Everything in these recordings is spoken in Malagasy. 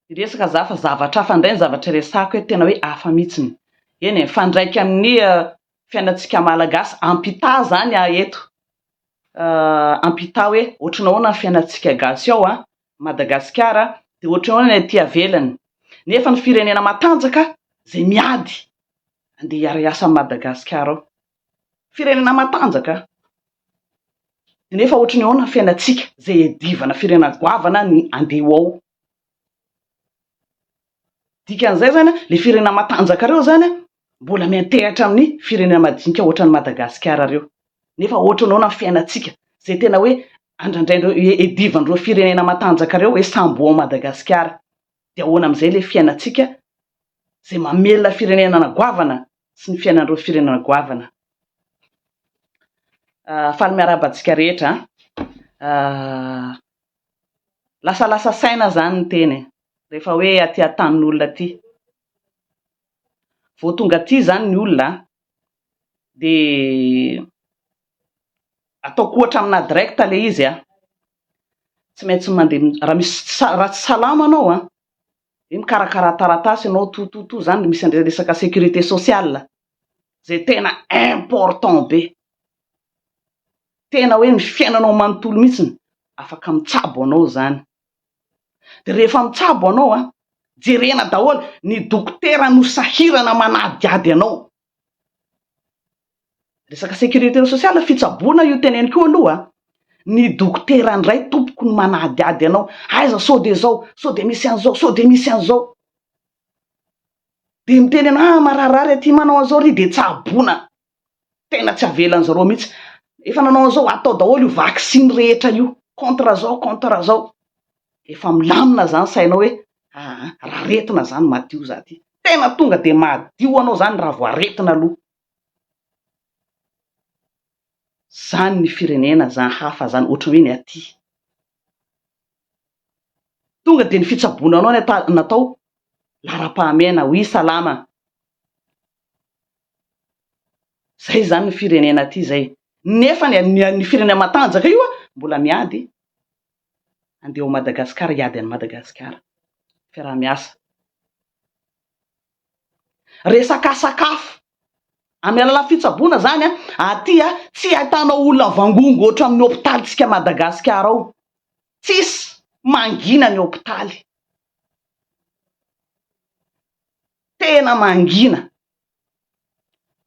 Hiresaka za fa zavatra hafa indray ny zavatra iresahako eto, tena hoe hafa mihitsiny. Eny e, mifandraika amin'ny fiainantsika Malagasy, ampità izany aho eto, ampità hoe ohatran'ny ahoana ny fiainantsika gasy ao Madagasikara dia ohatran'ny ahoana ny aty avelany. Nefa ny firenena matanjaka izay miady andeha hiara-hiasa amin'i Madagasikara ao. firenena matanjaka nefa ohatry ny ahoana ny fiainantsika zay edivana firenena goavana ny andeha ho ao dikan'izay zany a le firenena matanjaka reo zany a mbola miantehatra amin'ny firenena madinika ohatry ny Madagasikara reo nefa ohatry ny ahoana ny fiainantsika zay tena hoe andrandrain'ireo edivan'ireo firenena matanjaka reo hoe sambo ao Madagasikara de ahoana amizay le fiainantsika zay mamelona firenenana goavana sy ny fiainan'ireo firenena goavana ah, faly miarahaba antsika rehetra ah, lasalasa saina zany ny teny e. rehefa hoe aty an-tanin'olona aty vao tonga aty zany ny olona de ataoko ohatra amina direct le izy a tsy maintsy mandeha raha misy raha tsy salama anao an! dia mikarakara taratasy ianao tout tout tout zany misy an'ilay resaka sécurité sociale izay tena important be tena hoe ny fiainanao manontolo mihitsiny afaka mitsabo anao izany dia rehefa mitsabo anao an! jerena daholo ny dokotera no sahirana manadihady anao Resaka sécurité sociale, fitsaboana io teneniko io aloha a! Ny dokotera indray tompoko no manadihady anao, aiza sao dia izao, sao dia misy an'izao, sao dia misy an'izao. Dia miteny anao, ah marary ary aty manao an'izao ry, dia tsaboina. Tena tsy avelan'ny zareo mihitsy. Efa nanao an'izao, atao daholo io vaksiny rehetra io, contre zao, contre zao. efa milamina zany sainao hoe aa raretina zany madio za ty, tena tonga de madio anao zany raha vao aretina aloha, zany ny firenena zany hafa zany ohatry ny hoe ny aty, tonga de ny fitsaboana anao no natao laharam-pahamehana oui salama, zay zany ny firenena aty zay, nefa ny firenena matanjaka io an mbola miady, andeha ao Madagascar hiady an'i Madagascar fiaraha miasa resaka sakafo amin'ny alalan'ny fitsaboana zany a aty a tsy ahitanao olona mivangongo ohatra amin'ny hopitaly tsika Madagascar ao tsisy mangina ny hopitaly tena mangina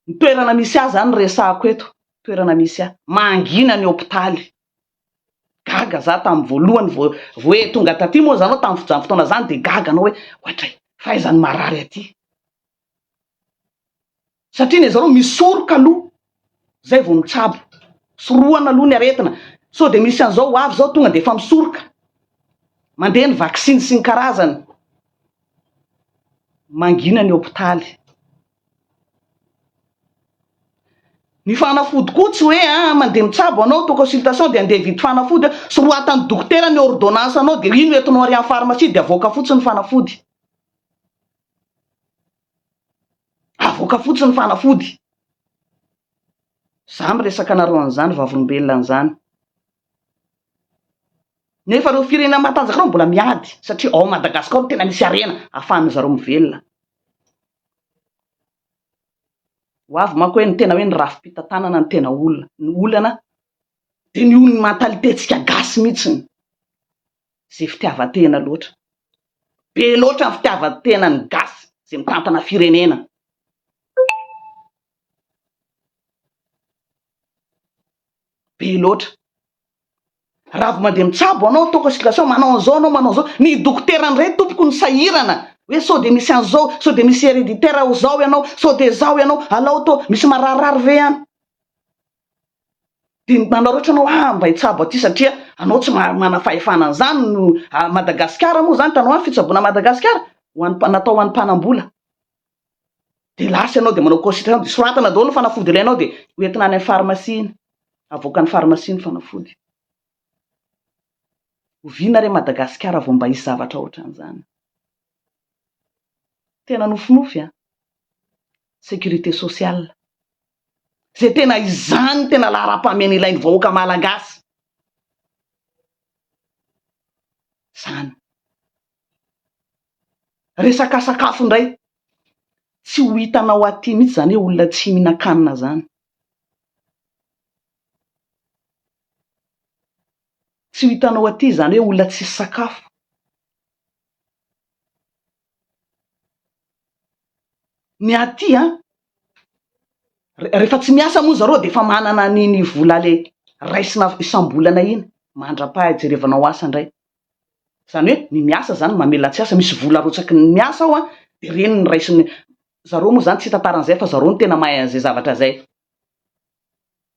ny toerana misy ahy zany resahako eto toerana misy ahy mangina ny hopitaly Gaga za tamin'ny voalohany vao vao he tonga taty moa zany aho tamin'ny fizany fotoana zany de gaga anao hoe ohatray fa aiza ny marary aty satria ny zareo misoroka aloha zay vao mitsabo sorohana aloha ny aretina sao de misy an'izao ho avy zao tonga de efa misoroka mandeha ny vaksiny sy ny karazany mangina ny hopitaly Ny fanafody koa tsy hoe a mandeha mitsabo anao to consultation dia andeha hividy fanafody a, sorohatan'ny dokotera ny ordonnance anao dia iny no entinao ary amin'ny pharmacie dia avoaka fotsiny ny fanafody, avoaka fotsiny ny fanafody, za miresaka anareo an'izany vavolombelona an'izany, nefa ireo firenena matanjaka ireo mbola miady satria ao Madagascar no tena misy harena afahan'ny zareo mivelona. Ho avy manko hoe ny tena hoe ny rafi-pitantanana no tena olana. Ny olana dia ny olon'ny mentalité-ntsika gasy mihitsiny izay fitiavan-tena loatra. Be loatra ny fitiavan-tenan'ny gasy izay mitantana firenena. Be loatra. Raha vao mandeha mitsabo anao ataoko excursion manao an'izao anao manao an'izao, ny dokotera indray tompoko no sahirana hoe sao dia misy an'izao, sao dia misy hereditaire ho zao ianao, sao dia zao ianao, alao toa misy mararirary ve any? Dia manaraotra anao ah mba hitsabo aty satria anao tsy manana fahefana an'izany no, Madagasikara moa izany hitanao any fitsaboana Madagasikara ho an'ny natao ho an'ny mpanambola. dia lasa ianao dia manao cosy trano dia soratana daholo ny fanafody ilainao dia ho entina any amin'ny pharmacie iny, avoakan'ny pharmacie ny fanafody. Oviana re Madagasikara vao mba hisy zavatra ohatran'izany? Tena nofinofy an! Sécurité sociale. Izay tena izany no tena laharam-pahamehana ilain'ny vahoaka Malagasy. Izany. Resaka sakafo indray, tsy ho hitanao aty mihitsy izany hoe olona tsy mihinan-kanina izany. Tsy ho hitanao aty izany hoe olona tsisy sakafo. Ny aty an, rehefa tsy miasa moa zareo dia efa manana an'iny vola le raisina isam-bolana iny mandra-paha-ijerevanao asa indray. Zany hoe ny miasa zany mamela tsy asa misy vola arotsaky ny miasa ao an de reny ny raisiny zareo moa zany tsy hitantara an'izay fa zareo no tena mahay an'izay zavatra zay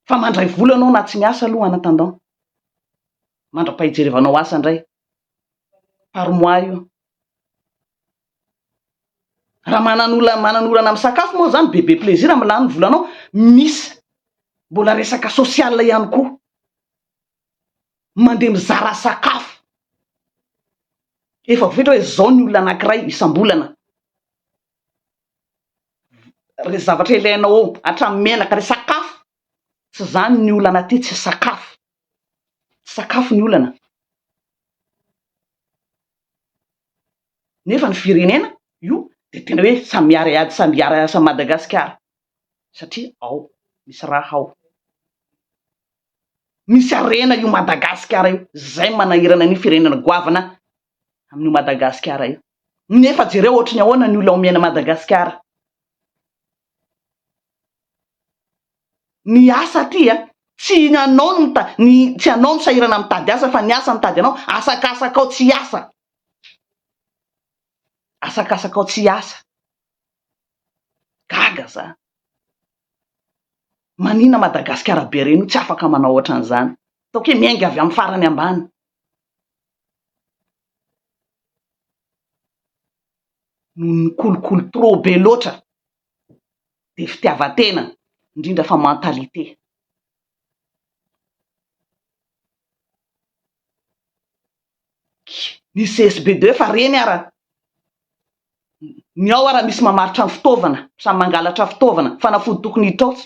fa mandray vola ianao na tsy miasa aloha en attendant mandra-pahijerevanao asa indray par mois io raha manan'olona manan'olana amin'ny sakafo moa zany bebe plaisir amin'ny lany ny volanao misy mbola resaka social ihany koa mandeha mizara sakafo, efa voafetra hoe zao ny olona anankiray isam-bolana, re zavatra ilainao ao hatramin'ny menaka, re sakafo, tsy zany ny olana aty tsy sakafo, tsy sakafo ny olana, nefa ny firenena io de tena hoe samy miara-hiady samy hiara-hiasa amin'i Madagasikara satria ao misy raha ao. Misy harena io Madagasikara io. Zay manahirana an'io firenena goavana amin'io Madagasikara io. Nefa jereo ohatry ny ahoana ny olona omena Madagasikara. Ny asa aty a, tsy ny anao no mita, ny tsy anao no sahirana mitady asa fa ny asa mitady anao. Asakasakao tsy hiasa. Asakasakao tsy hiasa. Gaga za. Manina Madagasikara be reny io tsy afaka manao otran'izany. Ataoko hoe miainga avy amin'ny farany ambany. Noho ny kolikoly trop be loatra dia fitiavan-tena indrindra fa mentalité. ny CSB deux fa reny ara ny ao ara misy mamaritra ny fitaovana samy mangalatra fitaovana fanafody tokony hitraotsy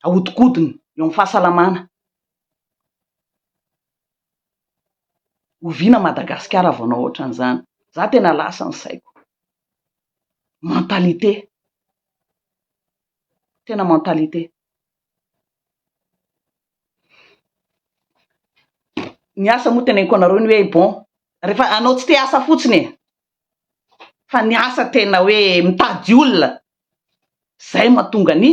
ahodikodina eo amin'ny fahasalamana oviana Madagasikara vao anao ohatran'izany za tena lasa ny saiko mentalité tena mentalité Ny asa moa teneniko anareo ny hoe bon rehefa anao tsy te asa fotsiny e, fa ny asa tena hoe mitady olona zay mahatonga ny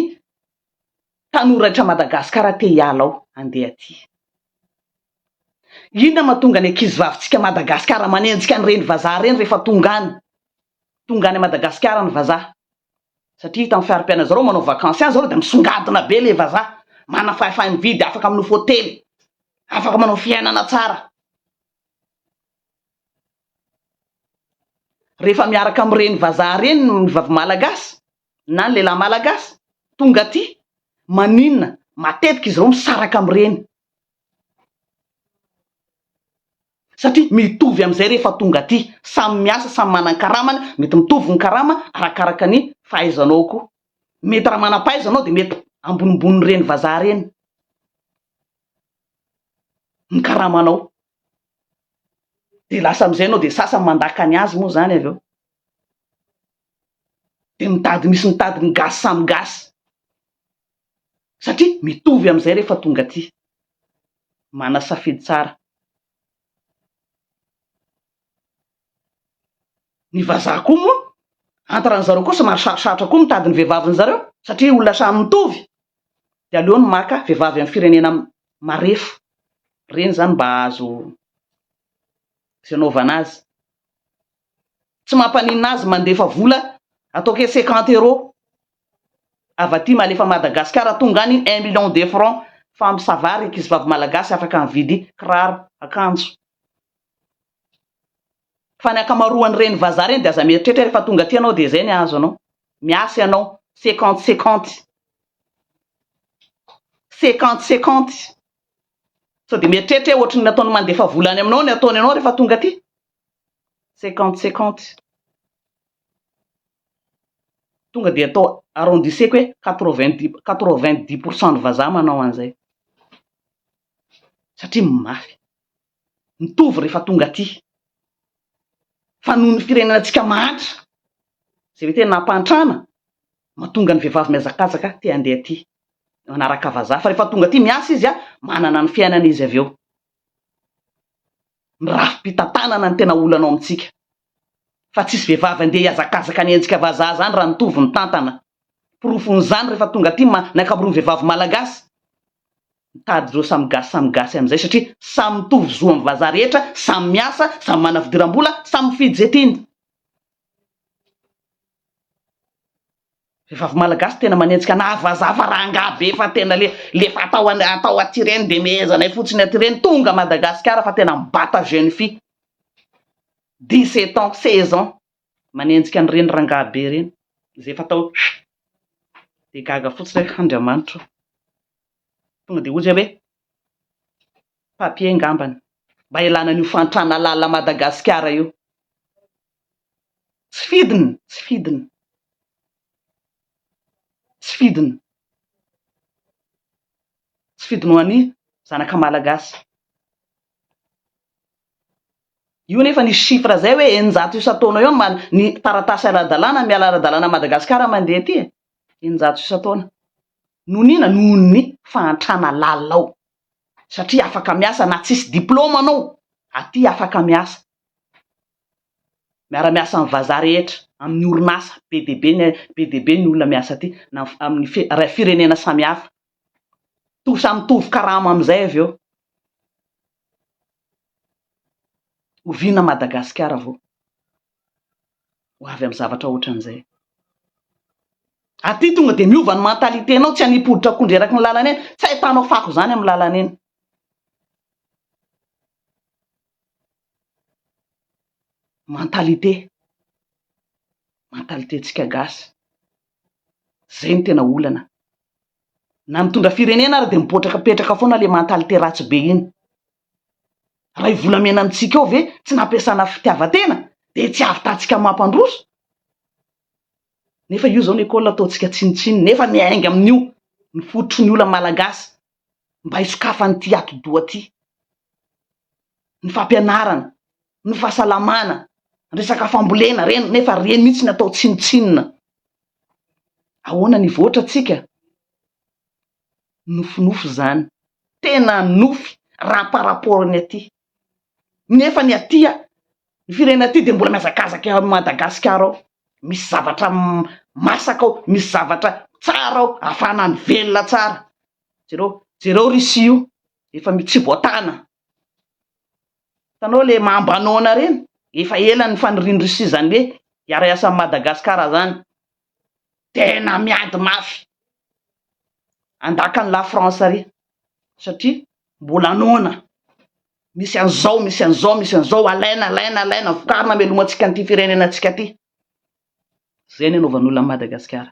tanora etra Madagasikara te hiala ao handeha aty. Inona mahatonga ny ankizy vavintsika Madagasikara manenjika an'ireny vazaha ireny rehefa tonga any? Tonga any Madagasikara ny vazaha satria hitan'ny fiharipiainan'ny zareo manao vakansy any zareo dia misongadina be ilay vazaha, manana fahefa-mividy, afaka manofa hotely, afaka manao fiainana tsara. Rehefa miaraka amin'ireny vazaha ireny ny vavy malagasy na ny lehilahy malagasy tonga aty, maninona matetika izy ireo misaraka amin'ireny? satria mitovy amin'izay rehefa tonga aty, samy miasa, samy manan-karamany, mety mitovy ny karama arakaraka ny fahaizanao koa, mety raha manam-pahaiza anao dia mety ambonimbonin'ireny vazaha ireny ny karamanao, dia lasa amin'izay ianao dia sasany mandaka ny azy moa izany avy eo, dia mitady misy mitady ny gasy samy gasy. satria mitovy amin'izay rehefa tonga aty. Manasafidy tsara. Ny vazaha koa moa, antra-ran zareo koa somary sarosarotra koa mitady ny vehivavin zareo, satria olona samy mitovy, dia aleony maka vehivavy amin'ny firenena marefo reny izany mba hahazo izay anaovana azy. tsy mampaninona azy mandefa vola atao ke cinquante euro avy aty malefa Madagascar tonga any un million de franc fa ampy ça va ry ankizy vavy malagasy afaka mividy kiraro akanjo fa ny ankamaroany reny vazaha reny de aza mieritreritra refa tonga aty ianao de zay ny ahazo anao miasa ianao cinquante cinquante cinquante cinquante sao de mieritreritra hoe ohatry ny ataony mandefa vola any aminao ny ataony anao refa tonga aty cinquante cinquante tonga dia atao arrondisseko hoe quatre vingt dix quatre vingt dix pour cent ny vazaha manao an'izay satria mafy mitovy rehefa tonga aty fa noho ny firenenantsika mahantra izay hoe tena hampantrana mahatonga ny vehivavy mihazakazaka te handeha aty manaraka vazaha fa rehefa tonga aty miasa izy a manana ny fiainana izy avy eo ny rafi-pitantanana no tena olana ao amintsika. Fa tsisy vehivavy andeha hiazakazaka ny endrika vazaha zany raha nitovy ny tantana. Porofon'izany rehefa tonga aty ma ny ankamoron'ny vehivavy malagasy mitady ireo samy gasy samy gasy amin'izay satria samy mitovy zo amin'ny vazaha rehetra, samy miasa, samy manana fidiram-bola, samy mifidy izay tiany. Vehivavy malagasy tena manenjika anah vazaha fa rangaha be fa tena le le efa atao an atao aty reny de mehezanay fotsiny aty reny tonga Madagascar fa tena mibata jeune fille dix sept ans seize ans manenjika an reny rangaha be reny ze efa atao de gaga fotsiny ah Andriamanitra o tonga de ozy hoe papier ngambany mba ilana an'io fantrana lala Madagascar io. Tsy fidiny, tsy fidiny. Tsy fidiny. Tsy fidiny ho an'ny zanaka malagasy. Io nefa ny chiffre izay hoe eninjato isan-taona eo ny taratasy ara-dalàna miala ara-dalàna an'i Madagasikara mandeha aty e! Eninjato isan-taona. Noho ny inona? Noho ny fahantrana lalina ao. Satria afaka miasa na tsisy diplaoma anao, aty afaka miasa. miara-miasa amin'ny vazaha rehetra, amin'ny orinasa be dia be ny be dia be ny olona miasa aty, na amin'ny fi ra firenena samihafa. To samy mitovy karama amin'izay avy eo. Oviana Madagasikara vao ho avy amin'ny zavatra ohatran'izay? Aty tonga dia miova ny mentalité-nao, tsy hanipy hoditra akondro eraky ny lalana eny, tsy ahitanao fako izany amin'ny lalana eny. mentalité, mentalité ntsika gasy, zay no tena olana, na mitondra firenena ary dia mipotraka petraka foana ilay mentalité ratsy be iny, raha io volamena amintsika io ve tsy nampiasana fitiavan-tena dia tsy havitantsika mampandroso, nefa io zao ny école ataontsika tsinontsinona, nefa miainga amin'io ny fototry ny olana malagasy mba hisokafan'ity atidoha ity. ny fampianarana, ny fahasalamana, resaka fambolena ireny nefa ireny mihitsy no atao tsinontsinona. Ahoana ny hivoatra antsika? Nofinofy izany, tena nofy raha par rapport ny aty. Nefa ny aty, ny firenena aty dia mbola mihazakazaka eo Madagasikara ao, misy zavatra masaka ao, misy zavatra tsara ao, ahafahana mivelona tsara. Jereo, jereo Russie io, efa mitsiboatana hitanao le mambanona reny efa ela ny fanirian'i Russie zany hoe hiara-hiasa amin'i Madagasikara zany tena miady mafy andakan'i la France ary satria mbola noana misy an'izao misy an'izao misy an'izao alaina alaina alaina vokarina melomantsika an'ity firenena antsika ty zay ny anaovan'olona Madagasikara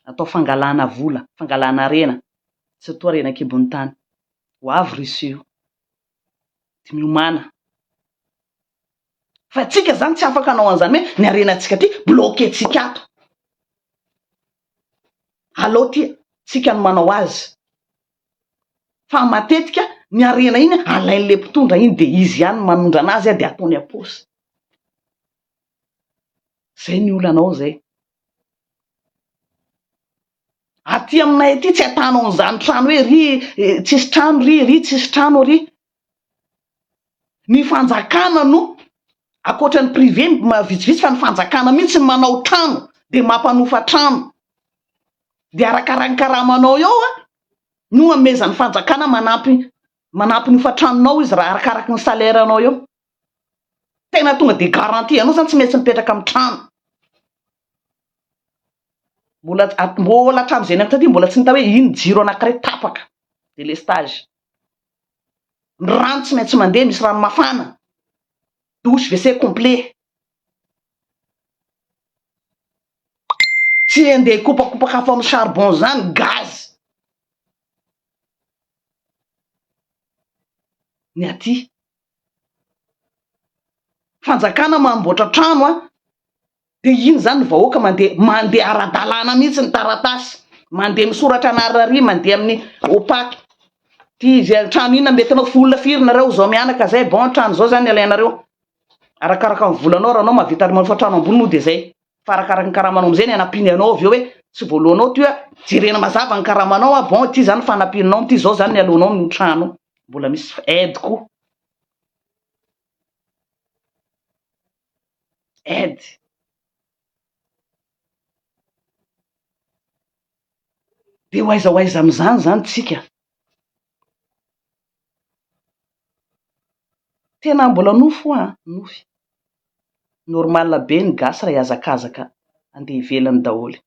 atao fangalana vola, fangalana harena, tsy toa reny ankibon'ny tany. Ho avy Russie io. Dia miomana. Fa antsika izany tsy afaka hanao an'izany hoe ny harenantsika aty, bloquer-tsika ato. Alao aty tsika no manao azy. Fa matetika ny harena iny alain'ilay mpitondra iny dia izy ihany no manondrana azy dia ataony am-paosy. Zay ny olanao zay. Aty aminay aty tsy atanao an'izany trano hoe ry tsisy trano ry ry tsisy trano ry. Ny fanjakana no akoatra ny privé vitsivitsy fa ny fanjakana mihitsy no manao trano de mampanofa trano. De arakaraky ny karamanao eo no amezan'ny fanjakana manampy manampy ny hofan-tranonao izy raha arakaraky ny salaire anao eo. Tena tonga dia garantie anao zany tsy maintsy mipetraka amin'ny trano. Mbola mbola hatramin'izay niampita aty mbola tsy nita hoe iny jiro anankiray tapaka délestage. Ny rano tsy maintsy mandeha misy rano mafana. Douche WC complet. Tsy handeha hikopakopaka afo amin'ny charbon izany, gaz. Ny aty. Fanjakana manamboatra trano an! Dia iny izany ny vahoaka mandeha mandeha ara-dalàna mihitsy ny taratasy, mandeha misoratra anà rarỳ, mandeha amin'ny OPAC. Ity izay trano inona mety anao, vola firy nareo izao mianaka izay, bon trano izao izany ny alainareo, arakaraka ny volanao, raha anao mahavita ary manofa trano ambony moa dia izay. fa arakaraka ny karamanao amizay ny hanampiany anao avy eo hoe tsy voalohanao ty hoe jerena mazava ny karamanao a bon ity zany fanampianao amty zao zany ny alohanao ny trano mbola misy aide koa aide de ho aiza ho aiza amizany zany tsika Tena mbola nofy hoa an! Nofy. Normal be ny gasy raha hihazakazaka handeha ivelany daholo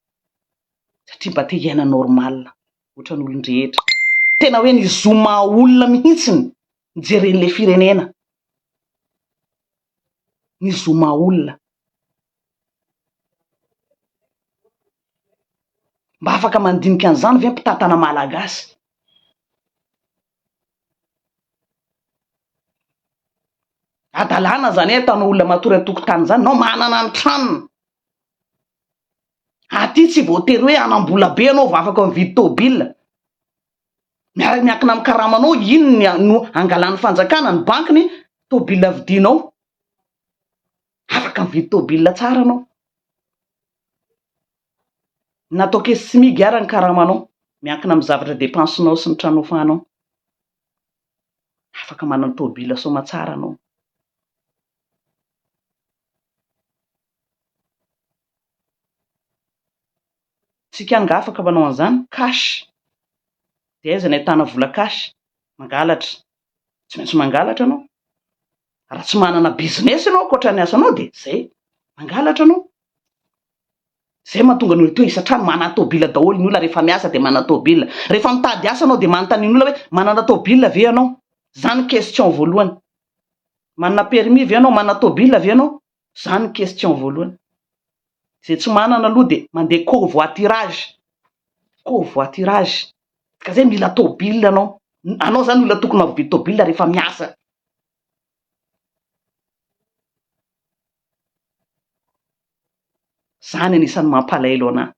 satria mba te hiaina normal ohatran'ny olon-drehetra. Tena hoe ny zo maha olona mihitsy no jeren'ilay firenena. Ny zo maha olona. Mba afaka mandinika an'izany ve mpitantana malagasy? Adalana zany ataonao olona matory an-tokotany zany, nao manana ny tranony, aty tsy voatery hoe hanam-bola be anao vao afaka mividy tôbila, miara miankina amin'ny karamanao iny no angalan'ny fanjakana, ny bankiny, tôbila vidinao. Afaka mividy tôbila tsara anao. Na atao caisse smig ara ny karamanao. Miankina amin'ny zavatra depensenao sy ny trano ofanao. Afaka manana tôbila soamatsara anao. Tsika angaha afaka manao an'izany? Cash. Dia aiza ny ahitana vola cash? Mangalatra. Tsy maintsy mangalatra anao. raha tsy manana business ianao ankoatra ny asanao dia zay, mangalatra anao. Zay mahatonga ny olona toa isan-trano manana tôbila daholo ny olona rehefa miasa dia manana tôbila. Rehefa mitady asa anao dia manontany ny olona hoe manana tôbila ve ianao? Zany question voalohany. Manana permis ve ianao? Manana tôbila ve ianao? Zany ny question voalohany. Zay tsy manana aloha dia mandeha covoiturage, covoiturage, ka zay mila tôbily anao, anao zany olona tokony mavidy tôbily rehefa miasa. Zany anisan'ny mampalaelo anah.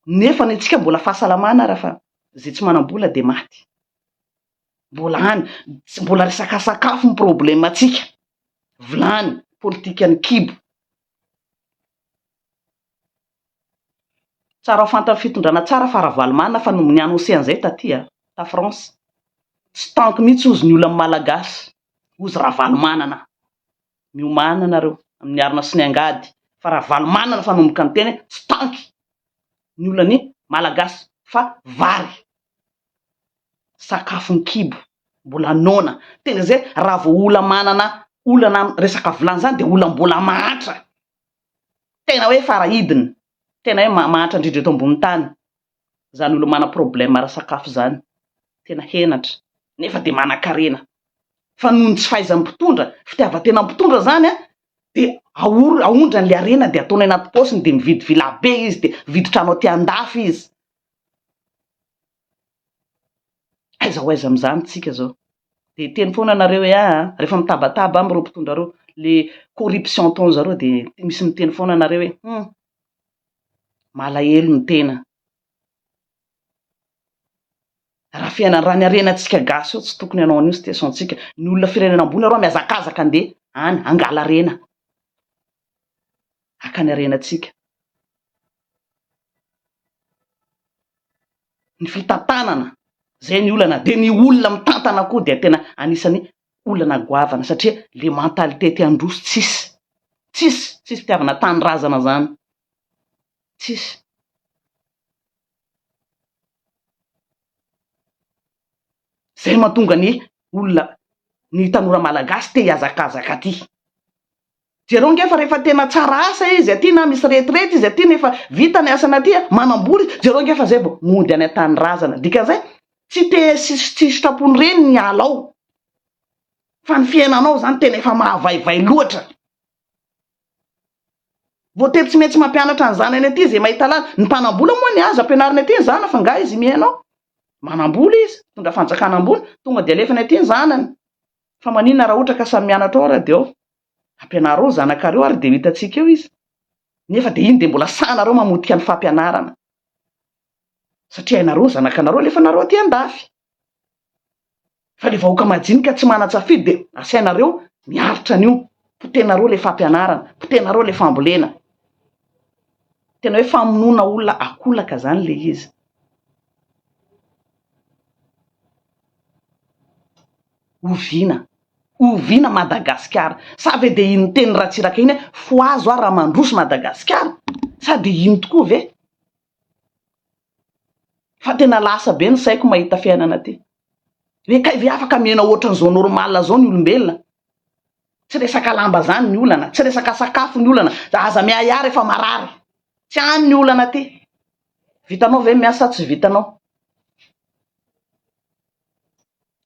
Nefa ny antsika mbola fahasalamana ara fa zay tsy manam-bola dia maty. mbola any, tsy mbola resaka sakafo ny problème antsika, vilany, politikan'ny kibo. Tsara ho fantan'ny fitondrana tsara fa Ravalomanana fa nomeny annonce an'izay taty a, ta France, tsy tanky mihitsy hozy ny olan'ny Malagasy, hozy Ravalomanana, miomana nareo amin'ny arina sy ny angady fa Ravalomanana fanomboka niteny hoe tsy tanky ny olan'ny Malagasy fa vary. sakafo an-kibo, mbola noana, tena izay raha vao olona manana olana amin'ny resaka vilany izany dia olona mbola mahantra, tena hoe fara-hidiny, tena hoe mahantra indrindra eto ambonin'ny tany izany olona manana problème ara-sakafo izany, tena henatra nefa dia manan-karena fa noho ny tsy fahaizan'ny mpitondra, fitiavan-tena amin'ny mpitondra izany an, dia aoro- aondrany ilay harena dia ataony anaty paosiny dia mividy villa be izy dia mividy trano aty an-dafy izy, Aiza ho aiza amin'izany isika izao? Dia hiteny foana nareo hoe aa, rehefa mitabataba amin'ireo mpitondra ireo, ilay corruption ataon'ny zareo dia misy miteny foana nareo hoe hum, malahelo ny tena. Raha fiainana, raha ny harenantsika gasy eo tsy tokony hanao an'io situation-tsika. Ny olona firenena ambony arô mihazakazaka andeha any hangala harena. hakany harenantsika. Ny fitantanana, zay ny olana, dia ny olona mitantana koa dia tena anisany olana goavana satria le mentalité te handroso tsisy, tsisy, tsisy fitiavana tanindrazana zany, tsisy. Zay mahatonga ny olona, ny tanora malagasy te hihazakazaka aty. Jereo nge fa rehefa tena tsara asa izy aty na misy retraite izy aty nefa vita ny asany aty, manambola izy, jereo nge fa zay vao mody any an-tanindrazana. Dikan'izay, tsy te sitrapony reny ny hiala ao fa ny fiainanao izany tena efa mahavaivay loatra. Voatery tsy maintsy mampianatra ny zanany aty izay mahita lalana. Ny mpanambola moa ny azo ampianarina aty ny zanany fa nga izy mihaino ao. Manambola izy, mitondra fanjakana ambony, tonga dia alefany aty ny zanany. Fa maninona raha ohatra ka samy mianatra ao ary dia ao? Ampianaro ao zanakareo ary dia ho hitantsika eo izy. Nefa dia iny dia mbola sahanareo mamotika ny fampianarana. Satria hainareo ny zanakanareo alefanareo aty andafy. Fa ilay vahoaka majinika tsy manan-tsafidy dia asainareo miaritra an'io. Potehinareo ilay fampianarana, potehinareo ilay fambolena. Tena hoe famonoana olona akolaka izany ilay izy. Oviana? Oviana Madagasikara? Sa ve dia iny tenin'i Ratsiraka iny hoe fohazo aho raha mandroso Madagasikara? Sa dia iny tokoa ve? Fa tena lasa be ny saiko mahita fiainana aty. Hoe kay ve afaka miaina ohatran'izao normal izao ny olombelona? Tsy resaka lamba izany ny olana, tsy resaka sakafo ny olana, aza miahiahy rehefa marary. Tsy any ny olana aty. Vitanao ve ny miasa sa tsy vitanao?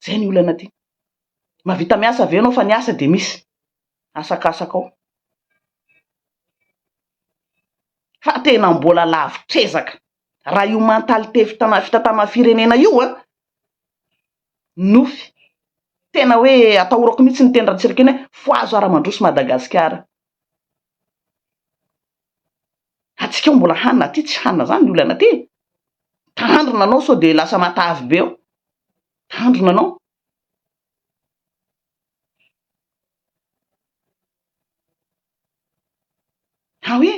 Zay ny olana aty. Mahavita miasa ve ianao fa ny asa dia misy asakasaka ao. Fa tena mbola lavitr'ezaka. Raha io mentalité fitana fitantanana firenena io a, nofy. Tena hoe atahorako mihitsy ny teny Ratsiraka iny hoe fohazo ara-mandroso Madagasikara. Atsika ao mbola hanina aty tsy hanina zany ny olana aty e! Tandrina anao sao dia lasa matavy be ao. Tandrina anao. Ha hoe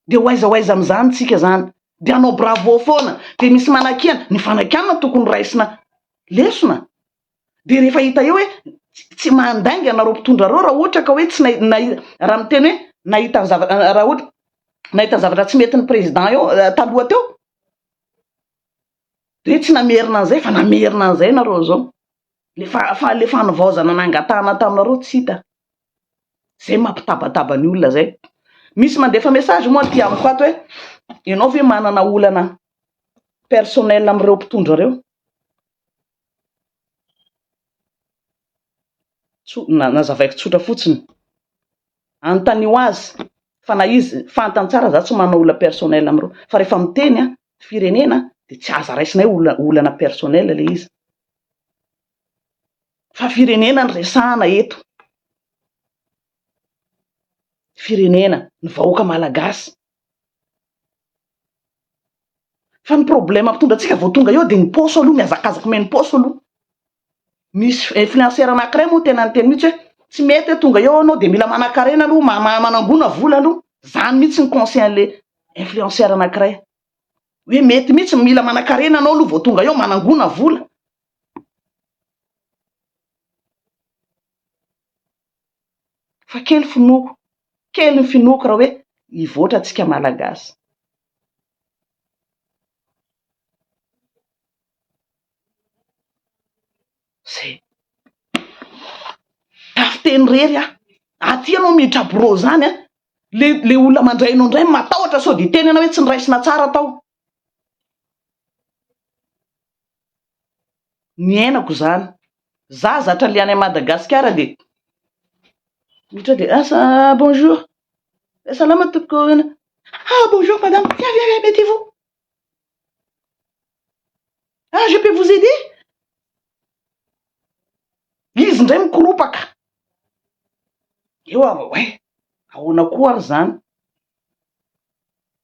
dia ho aiza ho aiza amin'izany tsika zany? Dia hanao bravo foana. Dia misy manakiana. Ny fanakiana tokony raisina lesona. Dia rehefa hita eo hoe tsy mandainga anareo mpitondra ireo raha ohatra ka hoe tsy nahita, raha miteny hoe nahita ny zavatra, raha ohatra nahita ny zavatra tsy mety ny président eo taloha teo, dia hoe tsy namerina an'izay fa namerina an'izay nareo izao. Ilay fa, fa ilay fanivaozana nangatahana taminareo tsy hita. Izay mampitabataba ny olona izay. Misy mandefa message moa aty amiko ato hoe ianao ve manana olana personnel amin'ireo mpitondra ireo? Nazavaiko tsotra fotsiny. Anontanio azy fa na izy fantany tsara za tsy manao olona personnel amin'ireo fa rehefa miteny firenena dia tsy aza raisina hoe olona olana personnel ilay izy fa firenena no resahana eto. Firenena, ny vahoaka malagasy. Fa ny problème mpitondra antsika vao tonga eo dia ny paosy aloha, mihazakazaka omena paosy aloha. Misy influenceur anankiray moa tena niteny mihitsy hoe tsy mety hoe tonga eo anao dia mila manakarena aloha, manangona vola aloha. Izany mihitsy ny conseil-n'le influenceur anankiray. Hoe mety mihitsy, mila manakarena anao aloha vao tonga eo, manangona vola. Fa kely finoako, kely ny finoako raha hoe hivoatra tsika Malagasy. Zay. Tafiteny irery aho. Aty ianao mitraborô izany an! Le le olona mandray anao indray matahotra sao dia hiteny ianao hoe tsy niraisina tsara tao. Niainako izany. Izaho zatra le any Madagasikara dia miditra ao dia ah bonjour, salama tompoko, ah bonjour madame, viens viens viens mettez-vous, ah je peux vous aider? Izy indray mikoropaka, eo aho vao hoe ahoana koa ary izany?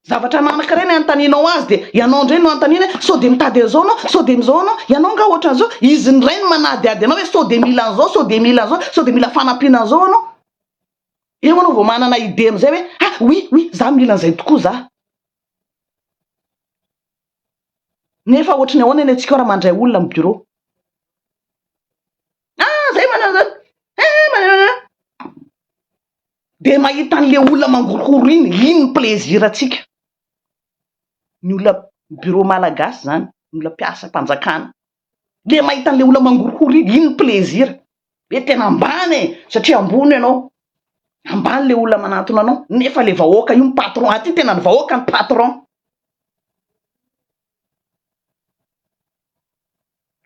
Zavatra anankiray ny anontanianao azy dia ianao indray no anontaniany hoe sao dia mitady an'izao ianao, sao dia an'izao ianao, ianao angaha ohatran'izao? Izy indray no manadihady anao hoe sao dia mila an'izao, sao dia mila an'izao, sao dia mila fanampiana an'izao ianao? Eo ianao vao manana idée amin'izay hoe ah oui oui za mila an'izay tokoa za. Nefa ohatry ny ahoana ny antsika raha mandray olona amin'ny bureau? Ah zay manao an'izany, eh manao an'izany. Dia mahita an'ilay olona mangorohoro iny, iny ny plaisir-ntsika. Ny olona bureau malagasy izany, ny olona mpiasam-panjakana. le mahita an'le olona mangorohoro iny, iny ny plaisir, hoe tena ambany e, satria ambony ianao, ambany le olona manantona anao, nefa le vahoaka io ny patron, aty tena ny vahoaka no patron,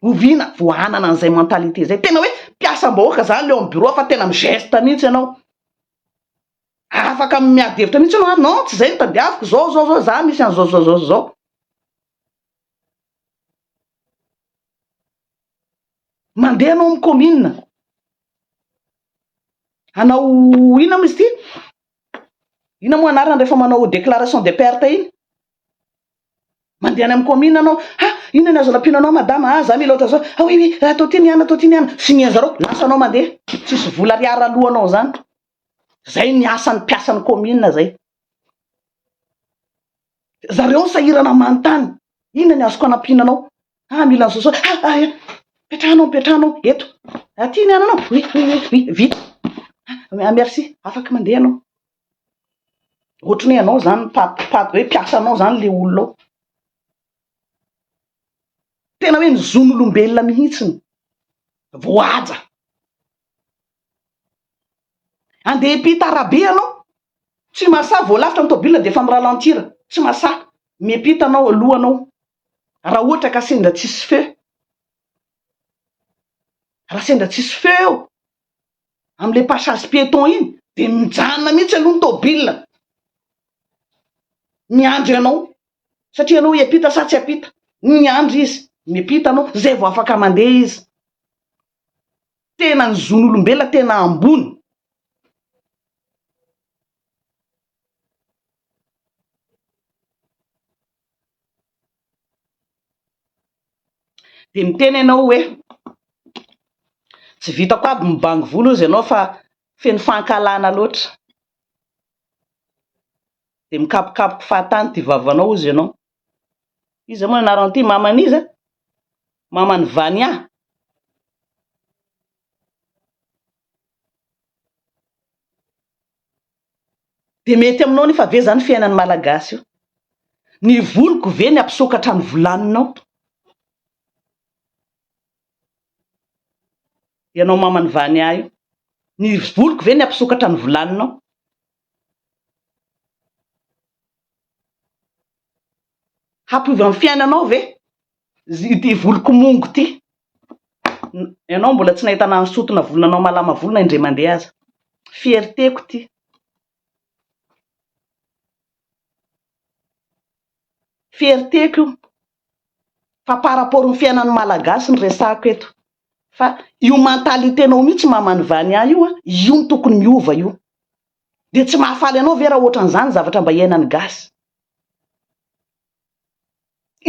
oviana vao hanana an'izay mentalité izay, tena hoe mpiasam-bahoaka zany le ao amin'ny bureau fa tena mi-geste mihintsy ianao, afaka miady hevitra mihintsy ianao, ah non tsy izay no tadiaviko, zao zao zao, za misy an'izao zao zao zao. Mandeha anao amin'ny kaominina hanao inona moa izy ity? Inona moa anarany rehefa manao déclaration de perte iny? Mandeha any amin'ny kaominina anao, ha inona ny azo rapiana anao madama, ha za mila ohatran'izao, ha oui oui atao ity ny anona, atao ity ny anona, sinian'ny zareo, lasa anao mandeha, tsisy vola ariary aloanao izany. Izay ny asan'ny mpiasan'ny kaominina izay. Zareo ny sahirana manontany, inona ny azoko anampiana anao? Ah, mila an'izao zao. Ah, ah, eh, mipetraha anao, mipetraha anao eto. Aty ny ananao. Oui, oui, oui, oui, vita. Ah, merci, afaka mandeha anao. Ohatry ny hoe anao zany pat, pat, hoe mpiasa anao zany le olona ao. Tena hoe ny zon'olombelona mihitsy ny voahaja. Andeha hiampita arabe ianao, tsy mahasahy, vao lavitra ny tôbila dia efa mi-ralentir, tsy mahasahy, miampita anao aloha anao raha ohatra ka sendra tsisy feu, raha sendra tsisy feu eo amin'ilay passage piéton iny dia mijanona mihitsy aloha ny tôbila miandry anao satria ianao hiampita sa tsy hiampita, miandry izy, miampita anao, izay vao afaka mandeha izy. tena ny zon'olombelona tena ambony. Dia miteny ianao hoe tsy vitako aby ny mibango volo hozy ianao fa feno fankahalana loatra. Dia mikapokapoka fahatany ity vavanao hozy ianao. Iza moa ny anarany ity? Maman'iza? Maman'i Vania? Dia mety aminao anefa ve izany fiainan'ny Malagasy io? Ny voliko ve ny hampisokatra ny volaninao? Ianao maman'i Vania io, ny voliko ve ny hampisokatra ny volaninao? Hampiova ny fiainanao ve ity voloko mongo ity? Ianao mbola tsy nahita nanosotona volo nanao malama volo na indray mandeha aza. Fierté-ko ity. Fierté-ko io. fa par rapport ny fiainan'ny Malagasy no resahako eto fa io mentalité nao mihitsy maman'i Vania io an, io no tokony miova io, dia tsy mahafaly anao ve raha ohatran'izany zavatra mba iainan'ny gasy?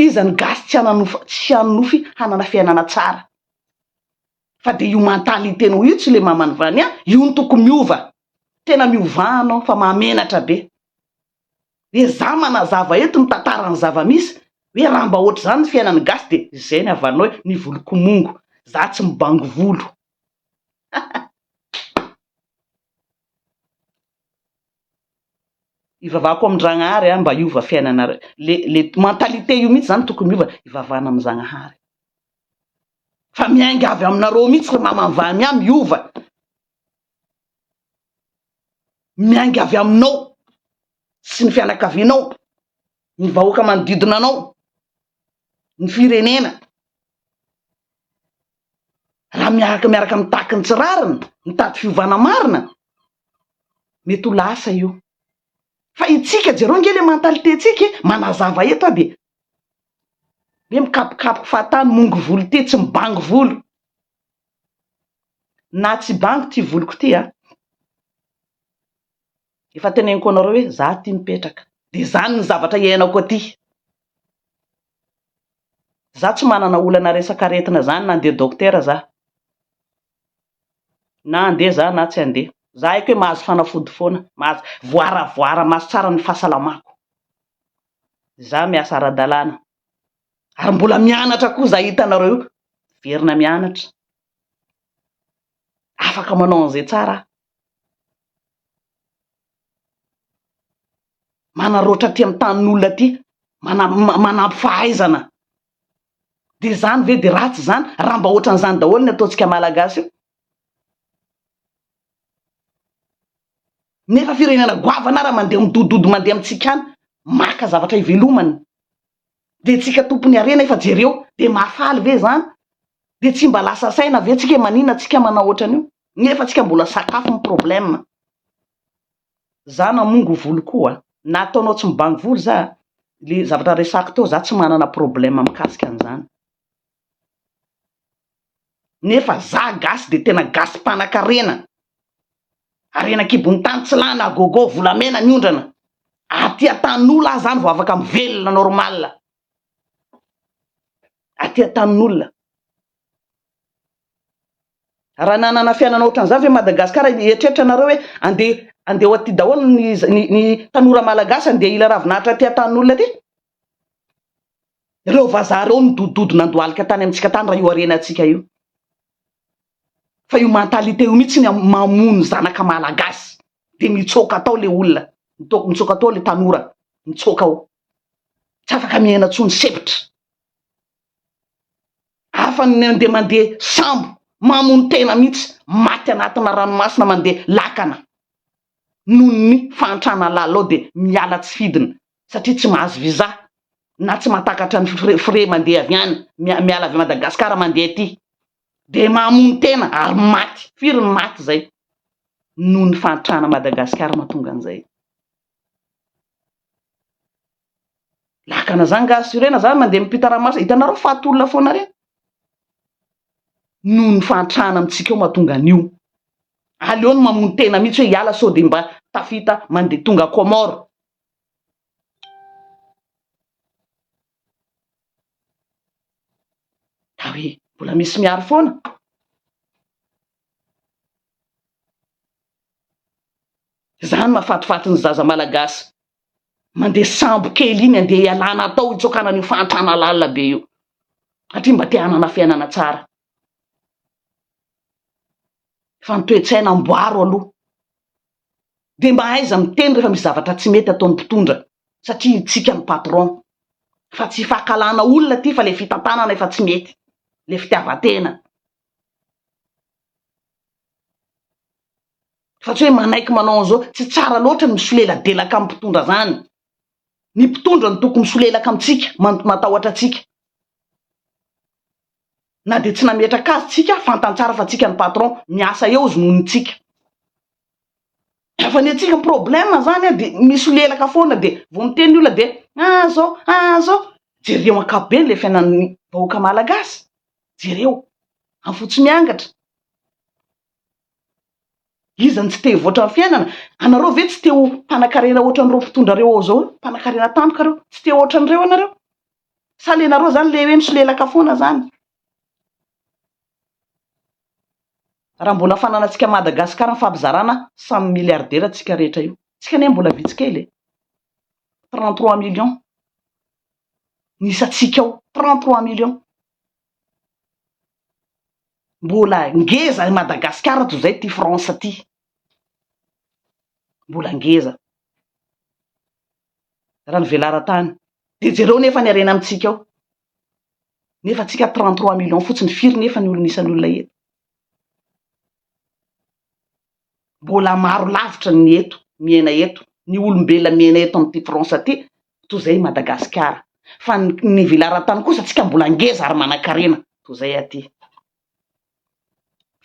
Iza ny gasy tsy hananofy tsy hanonofy hanana fiainana tsara? fa dia io mentalité nao io tsy le maman'i Vania io no tokony miova, tena miovà anao fa mahamenatra be. dia za manazava eto ny tantaran'ny zava-misy hoe raha mba ohatr'izany ny fiainan'ny gasy dia izay ny havanao hoe ny voloko mongo, za tsy mibango volo. Ivavahako amin-dragnahary aho mba hiova fiainanareo, le le mentalité io mihitsy zany tokony hiova, ivavahana amin'ny zagnahary fa miainga avy aminareo mihitsy ry mamanvamy ah miova. miainga avy aminao sy ny fianakavianao, ny vahoaka manodidina anao, ny firenena. Raha miaraka miaraka mitaky ny tsy rariny, mitady fiovana marina, mety ho lasa io. Fa itsika, jereo ange ilay mentalité-tsika e, manazava eto aho dia hoe mikapokapoka fahatany, mongo volo ity, tsy mibango volo. na tsy bango ty voloko ty a! efa teneniko anareo hoe za ty mipetraka de zany ny zavatra iainako aty, za tsy manana olana resaka aretina zany na andeha dokotera za, na andeha za na tsy andeha, za aiko hoe mahazo fanafody foana, mahazo voara voara maso tsara ny fahasalamako, za miasa ara-dalàna. ary mbola mianatra koa zay hitanareo io, miverina mianatra, afaka manao an'izay tsara aho, manarôtra aty amin'ny tanin'olona aty, manampy fahaizana, dia izany ve dia ratsy izany? Raha mba ohatran'izany daholo ny ataontsika Malagasy io. Nefa firenena goavana ara mandeha midododo mandeha amintsika any maka zavatra hivelomany de tsika tompony harena efa jereo de mahafaly ve zany de tsy mba lasa saina ve tsika manina tsika manao otran'io nefa tsika mbola sakafo ny problème za namongo volo koa na ataonao tsy mibango volo za le zavatra resako teo za tsy manana problème mikasika an'izany nefa za gasy de tena gasy mpanakarena, harena kibon'ny tany tsy lany à gogo, volamena miondrana, aty antanin'olo aho zany vao afaka mivelona normal, aty antanin'olona, raha nanana fiainana ohatran'izany ve Madagascar, eritreritra nareo hoe andeha andeha ho aty daholo ny ny tanora malagasy andeha hila ravin'ahitra aty antanin'olona aty? Ireo vazaha ireo nidodododo nandohalika tany amintsika tany raha io harenantsika io. Fa io mentalité io mihitsy ny mamono zanaka malagasy dia mitsoaka atao le olona, mitsoaka atao le tanora, mitsoaka ao. Tsy afaka miaina intsony sepitra. Hafa ny mandeha mandeha sambo, mamono tena mihitsy, maty anatina ranomasina mandeha lakana. Noho ny fahantrana lalao dia miala tsy fidiny satria tsy mahazo visa na tsy matakatra ny frais frais mandeha avy any mia miala avy Madagascar mandeha aty de mamono tena ary maty firy ny maty zay noho ny fahantrana Madagascar mahatonga an'izay. Lakana zany nga assurena zany mandeha mipita ranomasina hitanareo faty olona foana reny noho ny fahantrana amintsika ao mahatonga an'io aleo ny mamono tena mihitsy hoe hiala sao de mba tafita mandeha tonga Comores Ka hoe mbola misy miaro foana? Izany mahafatifaty ny zaza malagasy mandeha sambo kely iny andeha hialana atao hitsokana an'io fahantrana lalina be io satria mba te hanana fiainana tsara. Fa ny toe-tsaina amboaro aloha. dia mba aiza miteny rehefa misy zavatra tsy mety ataon'ny mpitondra satria hitsika ny patron fa tsy fahakalana olona aty fa le fitantanana efa tsy mety le fitiavantena fa tsy hoe manaiky manao an'izao tsy tsara loatra ny misoleladelaka amin'ny mpitondra zany ny mpitondra ny toko misolelaka amintsika matahotra atsika na dia tsy nametraka azy tsika fantany tsara fa tsika ny patron miasa eo zonony tsika fa ny antsika problème zany a de misolelaka foana de vao miteny ny olona de ah zao ah zao jereo ankapobeny le fiainan'ny vahoaka malagasy jereo am fotsy miangatra iza ny tsy te hivoatra ny fiainana anareo ve tsy te ho mpanakarena ohatran'ireo mpitondra reo ao zao mpanakarena tampoka reo tsy te ohatran'ireo anareo Sa le nareo zany le hoe misolelaka foana zany? Raha mbola fananantsika Madagascar ny fampizarana samy milliardaire tsika rehetra io. Tsika anie mbola vitsy kely e! Trente trois millions ny isantsika ao, trente trois millions. Mbola ngeza i Madagascar toy zay ty France ty. Mbola ngeza. raha ny velaran-tany dia jereo nefa ny harena amintsika ao nefa tsika trente trois millions fotsiny firy nefa ny olona isan'olona eto mbola maro lavitra ny eto miaina eto ny olombelona miaina eto amin'ity France aty toy izay Madagasikara fa ny velaran-tany kosa tsika mbola ngeza ary manan-karena toy izay aty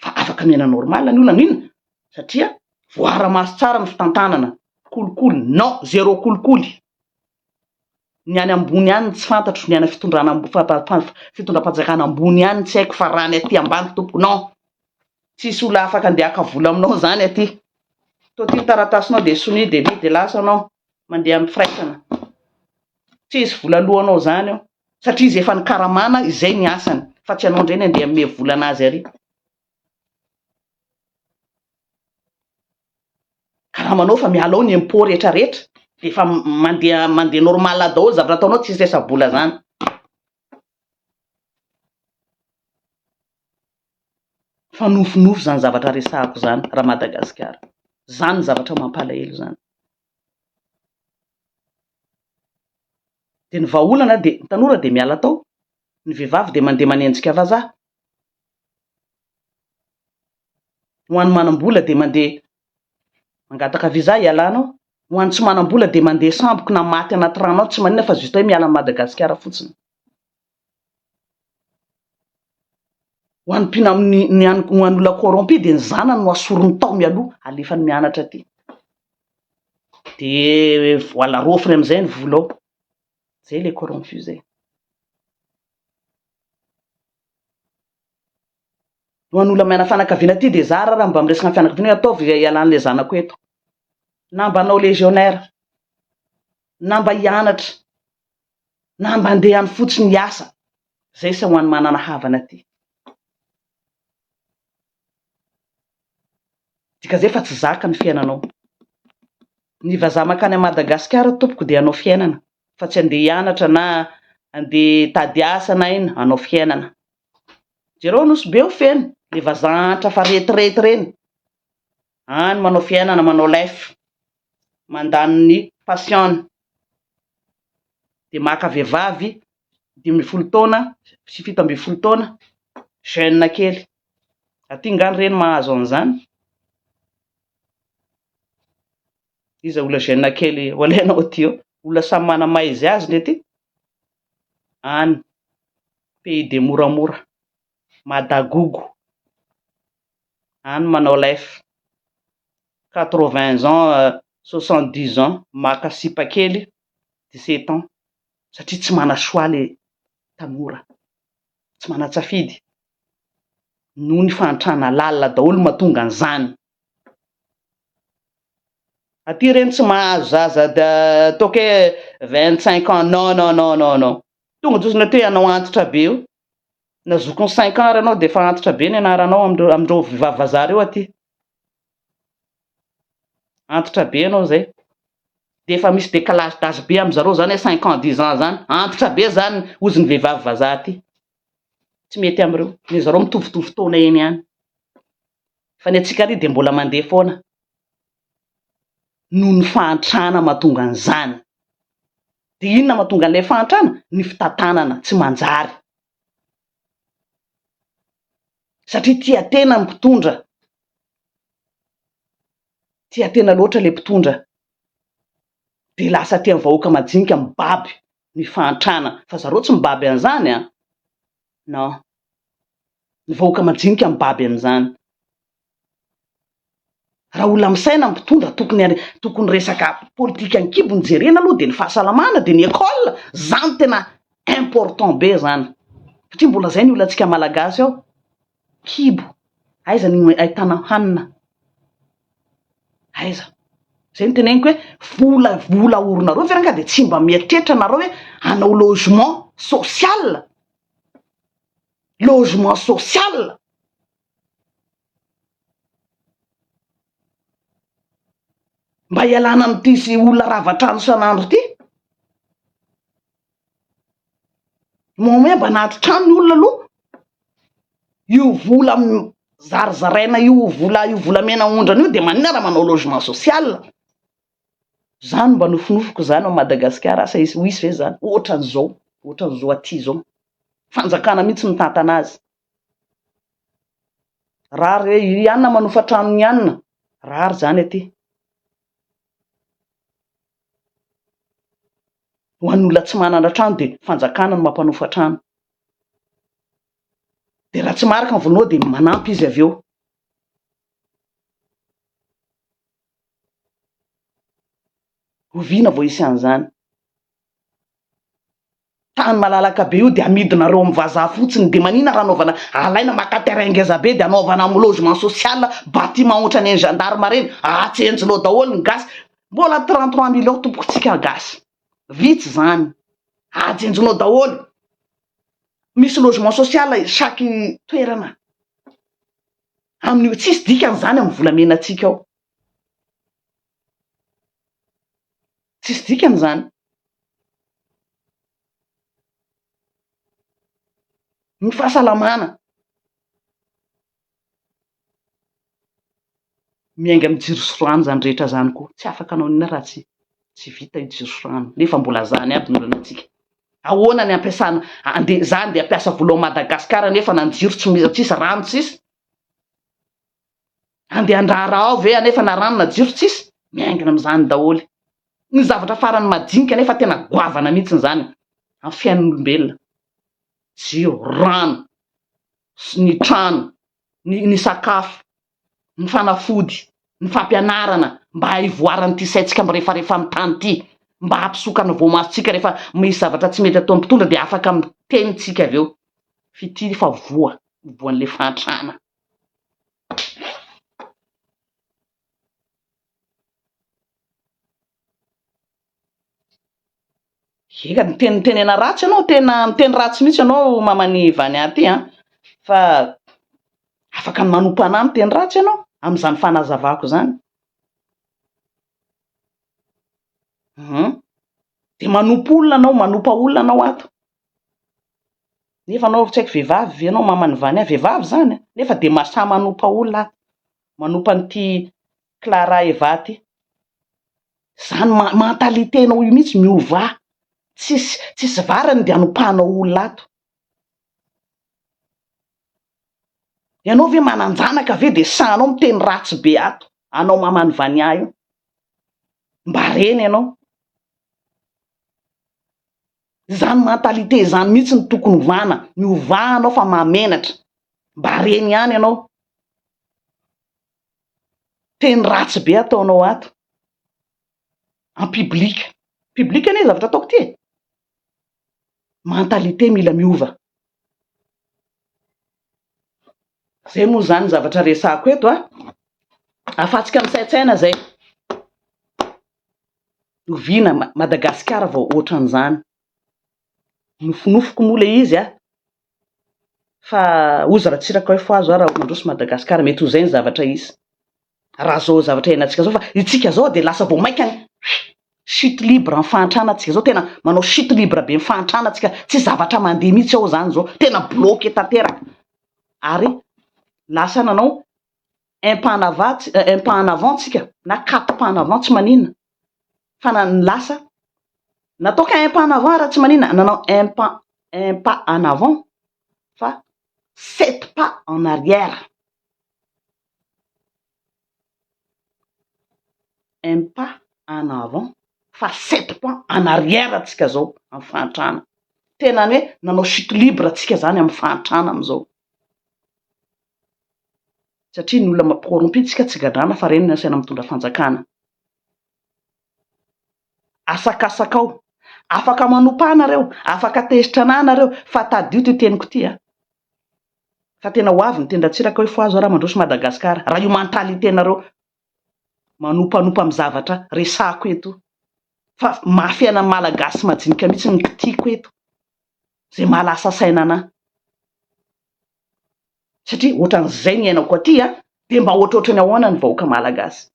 fa afaka miaina normal ny olona n'inona satria voaara-maso tsara ny fitantanana, kolikoly non, zero kolikoly, ny any ambony any no tsy fantatro, ny any fitondrana ambo- fa-fa-fa- fitondram-panjakana ambony ihany tsy haiko fa raha ny aty ambany tompoko non, tsisy olona afaka andeha haka vola aminao zany aty, toa ty ny taratasinao dia sonia dia lia dia lasa anao. mandeha amin'ny firaisana. Tsy hoe hisy vola aloanao izany eo satria izy efa nikaramana, izay ny asany fa tsy ianao indray ny handeha hanome vola an'azy àry. Karamanao fa miala ao ny impôt rehetra rehetra dia efa mandeha mandeha normal daholo zavatra ataonao, tsy hisy resa-bola izany. Fa nofinofy izany zavatra resahako izany ra Madagasikara. Izany no zavatra mampalahelo izany. Dia ny vahaolana dia ny tanora dia miala tao, ny vehivavy dia mandeha manenjika vazaha. Ho an'ny manam-bola dia mandeha Mangataka visa hialana ao. Ho an'ny tsy manam-bola dia mandeha samboky na maty anaty rano ao, tsy maninona fa juste hoe miala an'i Madagasikara fotsiny. Ho an'ny mpina, ny, ny, an'ny- ho an'ny olona corrompu dia ny zanany no asoriny tao mialoha, alefany mianatra aty. Dia voilà, raofiny amin'izay ny vola ao. Izay ilay corrompu izay. ho an'olona maina fanakaviana aty dia zara raha mba miresaka ny fianakaviana hoe ataovy izay hialan'ilay zanako eto na mba hanao légionnaire na mba hianatra na mba handeha any fotsiny hiasa zay sa ho an'ny manana havana aty dika zay fa tsy zaka ny fiainanao ny vazaha makany a madagasikara tompoko dia hanao fiainana fa tsy andeha hianatra na andeha tady asa na ina hanao fiainana Jereo nosy be ho feno le vazaha antra fa retirety reny any manao fiainana manao life mandany ny passion-ny de maka vehivavy dimy ambin'ny folo taona sy fito ambin'ny folo taona jeune kely aty nga ny reny mahazo an'izany. Iza ola gêne kely ho alainao aty eo? Olona samy mana maha izy azy le ty any pays de moramora madagogo any manao life quatre vingt ans soixante dix ans maka sipa kely dix sept ans satria tsy mana choix le tanora tsy mana tsafidy noho ny fahantrana lalina daholo mahatonga an'izany Aty ireny tsy mahazo zaza toke vingt cinq ans non non non non non tonga de ozy nareo te anao antitra be eo na zokiny cinq ans ary anao de efa antitra be ny anaranao amindreo amindreo vehivavy vazaha reo aty antitra be anao zay de efa misy decalage d'age be amizareo zany hoe cinq ans dix ans zany antitra be zany ozy ny vehivavy vazaha aty tsy mety amin'ireo, ry zareo mitovitovy taona eny ihany, fa ny antsika ary dia mbola mandeha foana noho ny fahantrana mahatonga an'izany, dia inona mahatonga an'ilay fahantrana? Ny fitantanana tsy manjary, satria tia tena ny mpitondra, tia tena loatra ilay mpitondra, dia lasa aty amin'ny vahoaka majinika mibaby ny fahantrana fa zareo tsy mibaby an'izany an! non! ny vahoaka majinika mibaby an'izany! raha olona misaina ny mpitondra tokony tokony resaka politika an-kibo no jerena aloha dia ny fahasalamana dia ny école zany tena important be zany satria mbola zay ny olantsika malagasy ao kibo, aiza no ahitana hanina, aiza? Zay no teneniko hoe vola vola oronareo ve ranga dia tsy mba mieritreritra nareo hoe hanao logement social, logement social, mba hialana amin'ity olona rava trano isan'andro ity. Moa moa mba nandry trano ny olona aloha? Io vola zarizaraina io vola io volamena aondrana io dia maninona raha manao logement social? Zany mba nofinofiko zany ao Madagasikara asa ho hisy ve zany ohatran'izao ohatran'izao aty zao? Fanjakana mihintsy mitantana azy. Raha re ianona manofa trano ny ianona rariny zany aty. Ho an'ny olona tsy manana trano dia fanjakana no mampanofa trano. Dia raha tsy marika ny volanao dia manampy izy avy eo. Oviana vao hisy an'izany? Tany malalaka be io dia amidinareo amin'ny vazaha fotsiny dia manina raha anaovana alaina maka terrain ngeza be dia anaovana amin'ny logement social bâtiment ohatran'ny an'ny gendarme ireny ahatsenjinao daholo ny gasy Mbola trente trois mille eo tompoko tsika gasy vitsy zany ajenjinao daholo misy logement social chaque toerana amin'io tsisy dikany zany amin'ny volamena tsika ao tsisy dikany zany ny fahasalamana miainga amin'ny jiro sy rano izany rehetra izany koa, tsy afaka hanao inona raha tsy tsy vita io jiro sy rano nefa mbola izany aby ny olana antsika, ahoana ny hampiasana andeha za andeha hampiasa vola ao Madagasikara nefa na ny jiro tsy misy tsisy rano tsisy, andeha handraharaha ao ve anefa na rano na jiro tsisy, miaingina amin'izany daholo, ny zavatra farany madinika nefa tena goavana mihintsy izany amin'ny fiainan'olombelona, jiro, rano. sy ny trano, ny ny sakafo, ny fanafody, ny fampianarana mba haivoaran'ity saintsika mirefarefa amin'ny tany ity, mba hampisoka ny voamasontsika rehefa misy zavatra tsy mety ataon'ny mpitondra dia afaka miteny tsika avy eo f'ity fa voa voan'ilay fahantrana. Eka miteny mitenena ratsy ianao tena miteny ratsy mihitsy ianao maman'i Vania ity an! Fa afaka manompanà ahy miteny ratsy ianao amin'izany fanazavako izany. Hum. Dia manompo olona ianao, manompa olona ianao ato. Nefa ianao tsy haiko vehivavy ve ianao maman'i Vania, vehivavy izany an! Nefa dia mahasahy manompa olona ato, manompa an'ity Clara Evaty, Zany mentalité nao io mihitsy miova a! Tsisy tsisy varany dia anompanao olona ato. Ianao ve mananjanaka ve dia sahanao miteny ratsy be ato anao maman'i Vania io? Mba reny ianao. Izany mentalité izany mihitsy no tokony hovana, miovà anao fa mahamenatra. Mba reny ihany ianao. Teny ratsy be ataonao ato en public. Public anie zavatra ataoko ity e! Mentalité mila miova. Zay moa zany ny zavatra resahako eto a! Afatsika misaintsaina zay. Oviana Madagasikara vao ohatran'izany. Nofinofiko moa ilay izy a! fa ozy ratsiraka hoe foazy hoa raha mandroso Madagascar mety ho zay ny zavatra hisy raha zao zavatra hiainantsika zao fa itsika zao dia lasa vao maika ny chute libre ny fahantrana tsika zao tena manao chute libre be ny fahantrana tsika tsy zavatra mandeha mihitsy ao zany zao tena bloque tanteraka ary lasa nanao aim pas en avant tsika na quatre pas en avant tsy manina fa na ny lasa natao qu'un pas en avant ary tsy manina nanao un pas un pas en avant fa sept pas en arrière un pas en avant fa sept pas en arrière tsika zao amin'ny fahantrana tena ny hoe nanao chute libre tsika zany amin'ny fahantrana amizao satria ny olona corrompu tsika tsy gadrana fa reny no asaina mitondra fanjakana. Asakasaka ao. Afaka manompa ahy nareo, afaka tezitra anah nareo fa tadio ity teniko ity a. Fa tena ho avy ny tendratsiraka hoe fohazo ara mandroso Madagascar raha io mentalité nareo manompanompa amin'ny zavatra resahako eto io. Fa mafy aina malagasy majinika mihitsy no kitihiko eto. izay maha lasa saina anà. Satria ohatran'izay ny iainako aty an! Dia mba ohatrohatran'ny ahoana ny vahoaka malagasy?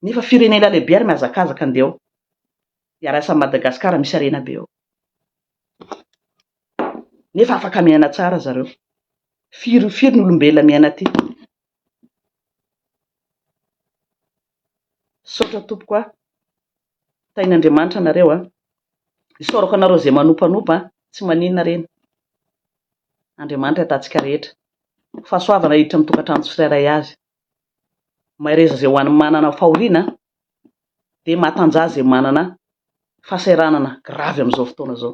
Nefa firenena lehibe ary mihazakazaka andeha ao iarasan'i Madagascar misy harena be ao. Nefa afaka miaina tsara zareo. Firy firy ny olombelona miaina aty. Misaotra tompoko a! Tahin'Andriamanitra anareo a! Isaorako anareo izay manompanopa a! Tsy maninona reny. Andriamanitra ahitatsika rehetra. Fahasoavana hiditra amin'ny tokantrano tsirairay avy. Mahereza izay ho an'ny manana fahoriana dia mahatanjaha izay manana fahasahiranana gravy amin'izao fotoana izao.